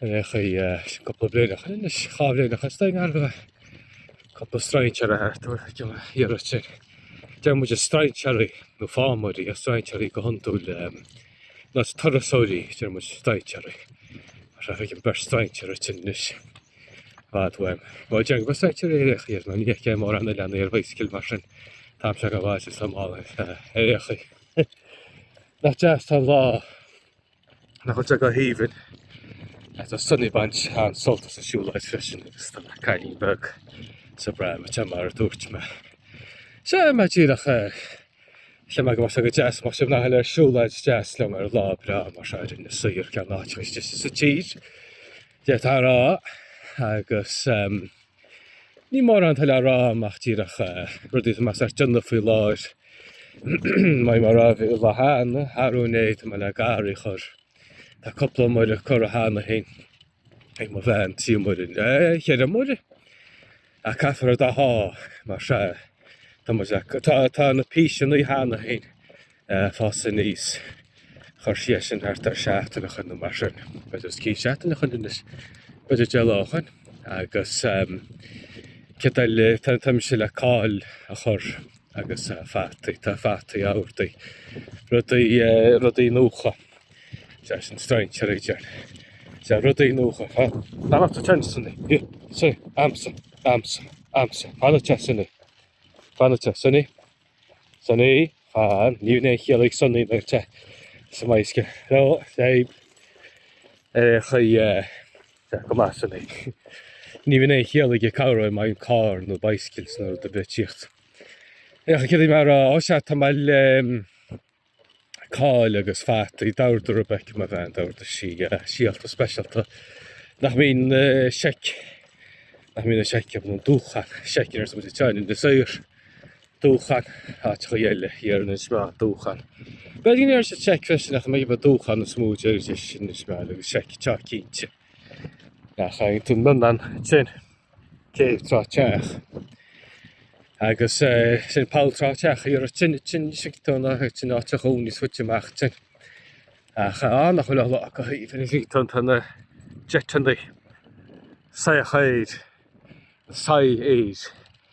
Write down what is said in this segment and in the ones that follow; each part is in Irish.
ar aon chaoi cúpla bliain ó shin anois, dhá bhliain is dóigh arbh é, cúpla strainséara thart ar a' iarraidh sin. Deir muid strainséaraí nó fámóirí, a' strainséaraí go hiondúil eh, ná turasóirí, deir muid strainséaraí, mar tá feicim beirt strainséara thíos anois, bhfad uaim. Bhí muid ag strainséaraí ar aon chaoi ar na ndiaidh cé mórán na leanaí ar bhaidhsicil mar sin, táim se go bhfáilte sa mbaile ar aon chaoi. Nach deas tá an lá. Nach bhfuil sé go haoibhinn ach tá Sonny baint an-sult as an siúlóid freisin agus tá mo chailín beag sa bpram atá mar a dúirt mé. Sea, mé díreach eh, chím agam as é go deas más ag mná eile ar siúlóid is deas liom ar lá breá mar seo a rinne saothar ceann áit is deise sa tír, déarfá a rá, agus em. Ní mórán atá le rá agam ach díreach rudaí atá mise ag déanamh faoi láthair. Mar a bhí mé ag rá an lá cheana, arú inné tá mé le garraí a chur. Tá cúpla iomaire curtha cheana féin ag mo bhean, trí iomaire, eh, cheithre iomaire? Ach caithfear a dath, mar sea, tá muid le, tá, tá na píseanna cheana féin ag fás aníos. Chuir sí iad sin thart ar seachtain ó shin nó mar sin. B'fhéidir os cionn seachtain ó shin anois. B'fhéidir deich lá ó shin. Agus céard tá le tá tá mise le cál a chur agus fataí. Tá fataí amhartaí. Rudaí rudaí nua. Sea sin strainséir a bhí iontu. Sea rudaí nua ha. Fanacht sa tent san oíche. Hí sí. Amsa amsa amsa. Fanacht tent san oíche. Fanacht tent san oíche. Sonny ní bhíonn aon chiall ag Sonny nuair atá sé ar an mbaidhsicil. Ó, téigh ar aghaidh. Sea, go maith Sonny. Ní bhíonn aon chiall aige go bhféadfadh carr nó baidhsicil ná rud ar bith tíocht. Féach céard a bhí mé a rá. Ó sea, tá mé le. cál agus fataí. D'ordaigh Rebecca, mo bhean, d'ordaigh sí síolta speisialta nach mbíonn na seic, nach mbíonn an seic ná an dúchan, seic in Iorras Aithneach, in Inis Oírr, dúchan, áiteachaí eile thiar in Inis Meáin, dúchan. B'fhéidir go ndéarfadh siad seic freisin ach mba é dúchan is mó a déarfaidís in Inis Meáin agus seic, táim cinnte. Nach fhaigheann tú na meáin sin taobh tráth teach agus sin poll tráth teach a iarraidh tine tine sin tú ná tine áit a dhún níos fuite amach tin. Ach á nach bhfuil ola acu thaobh ina bhí tú tá na deiteannaí saothar air, saigh air.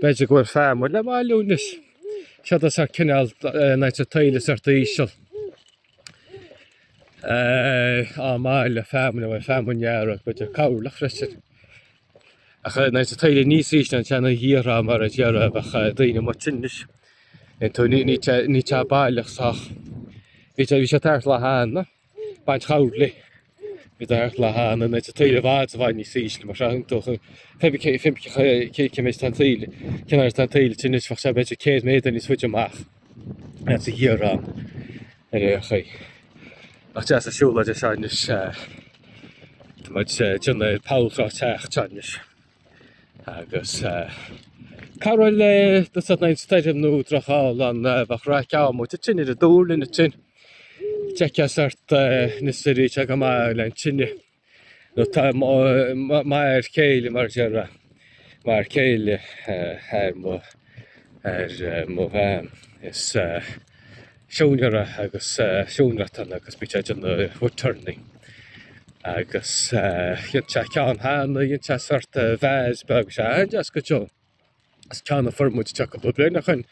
B'fhéidir go bhfuil feamainn le bailiú anois. Sea tá sé cineál nuair atá an taoille sách íseal ag bailiú feamainn a bhfuil feamainn ghearr agus b'fhéidir coirleach freisin. Ach nuair atá an taoille níos ísle ná an seanadh ghiorr á mar a deir a bheadh daoine amuigh tinn anois. Níl sé baileach sách. Bhí sé bhí sé tart lá h-anna. baint chabhlaigh i dtair le haghaidh na neite taoile i bhfad i bhfad níos ísle, mar seo iontu feibice fimpice cíce méid tá an taoile cin air tá an taoile te anois bheadh sé b'fhéidir céad méadar níos faide amach as a ghiar ann ar aon chaoi. Ach deas a siúla de seis tá muid dionnair poll Trá Teach teis. Agus cad raibh le do san aon stoirm nó drochghála bheadh raic ann mo tine ar a dúr le na tine. D'fheicfeá sórt na stoiríí seo go maith le an tine nó tá mar a chéile mar a déarfá mar a chéile ar mo ar mo bhean is siúinéara agus siúinéireacht agus bhí sé ag déanamh wood turning agus dhéan sé ceann cheana, dhéan sé sórt de vase beag, bhí sé an-deas go deo. Is ceann a fuair muid isteach cúpla bliain ó shin,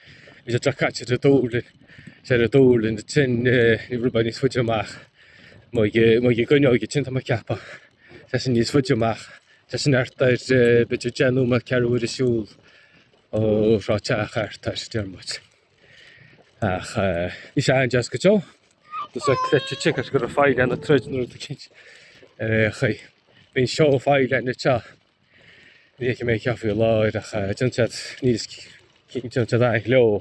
bhí sé drochchaite ar an dúlra, sé ar an dúlra na tinn ní raibh mé níos faide amach, mo ag coinneáil go tinn tá mé ag ceapadh, sé sin níos faide amach. Tá sin thart ar b'fhéidir deich nóiméad ceathrú uaire siúl ó Thrá Teach thart ar Diarmuid. Ach eh, bhí sé an-deas go deo. Tá sé cleite ticket go raibh faill ar na troid nuair a bhí cinnte ar aon chaoi. Bhí an seó faill ar na teach. Ní fheicim é ceapadh faoi láthair ach eh, déanann siad níos, déanann siad aithne leo.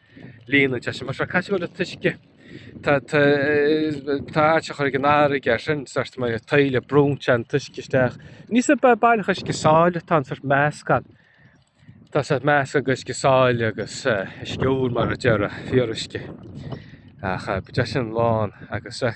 líonadh de sin. Mar seo, caithfidh go bhfuil an t-uisce, tá, tá, tá áit a chur ag an fharraige ar sin, sórt mar a taoile, brúnn sé an t-uisce isteach. Ní sa ba- baileach uisce sáile atá ann sórt meascán, tá sórt meascán go uisce sáile agus eh, uisce úr mar a déarfá, fíoruisce. Ach eh, beidh sé sin lán agus eh,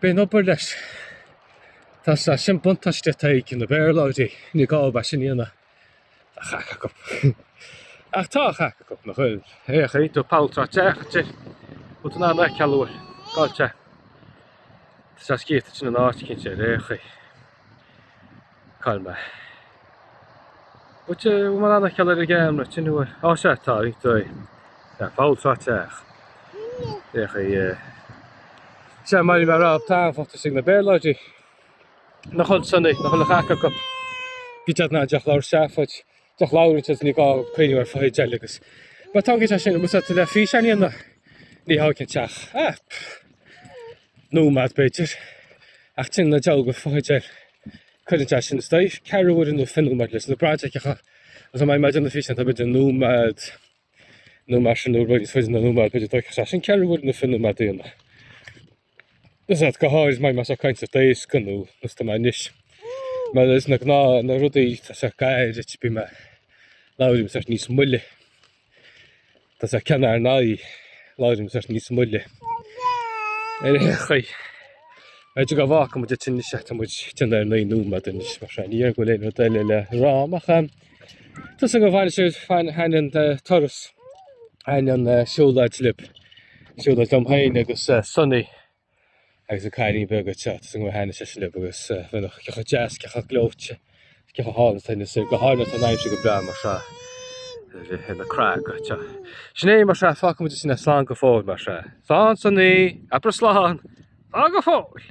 Bíonn obair leis. Tá sé sin buntáiste atá ag na Béarlóirí, ní gá a bheith sin ina chac acu. Ach tá a chac acu, nach bhfuil? Ar aon chaoi, tá poll Trá Teach thiar, út an anna ceall uair, cá'il sé. Tá sé scríofa in áit eicínt, ar aon chaoi. Cá'il mé? Bhuel, bhfuil mé in ann a cheiliúradh ag aon rud sin? Bhuel, á sea, tá, ag dóigh. Tá, poll Trá Teach. Féach i eh. Sea, mar a bhí mé ag rá, tá an-fhonn ag na Béarlóirí. Nach bhfuil sin ag, nach bhfuil a chac acu. Bíonn siad in ann díreach labhairt seafóid, díreach labhairt agus ní gá cuimhneamh ar fotheidil agus. Má tá an gceist sin, má tá tú le físeán a dhéanamh, ní thógann sé ach ah nóiméad b'fhéidir, ach téann na dealga fotheidil. Cuireann sé sin is dóichí ceathrú uaire nó fiche nóiméad leis na braighdeaceacha agus dá mbeadh mé ag déanamh físeán tá b'fhéidir nóiméad nó mar sin nó rud níos faide ná nóiméad b'fhéidir dtógfadh sé sin ceathrú uaire nó fiche nóiméad daoine. Is iad go háirid mbeidh mé ag caint daosca nó is tá mé anois. Mar insna gnáthrudaí tá sé gairid bím labhraím sórt níos moille. Tá sé ceann ar n-aghaidh láirim bheith níos moille ar aon chaoi. B'fhéidir go bhfágfaidh muid ansin é is ea tá muid ag teannadh ar naoi nóiméad anois mar sin. Ní dhéarfainn go bhfuil aon rud eile le rá ach eh, tá súil agam gur thaitin sé, thaitin an eh, turas thaitin an eh, siúlóid libh siúlóid liom féin agus eh, Sonny agus an cailín beag tá súil agam gur thaitin sé sin libh agus bheadh cé chomh deas, cé chomh gleoite, cé chomh hálainn is go háirithe tá an aimsir go breá mar seo le bheith ina craic go deo. Sin é mar seo fágfaidh muid ansin é slán go fóill mar seo. Slán Sonny! Abair slán! Slán go fóill!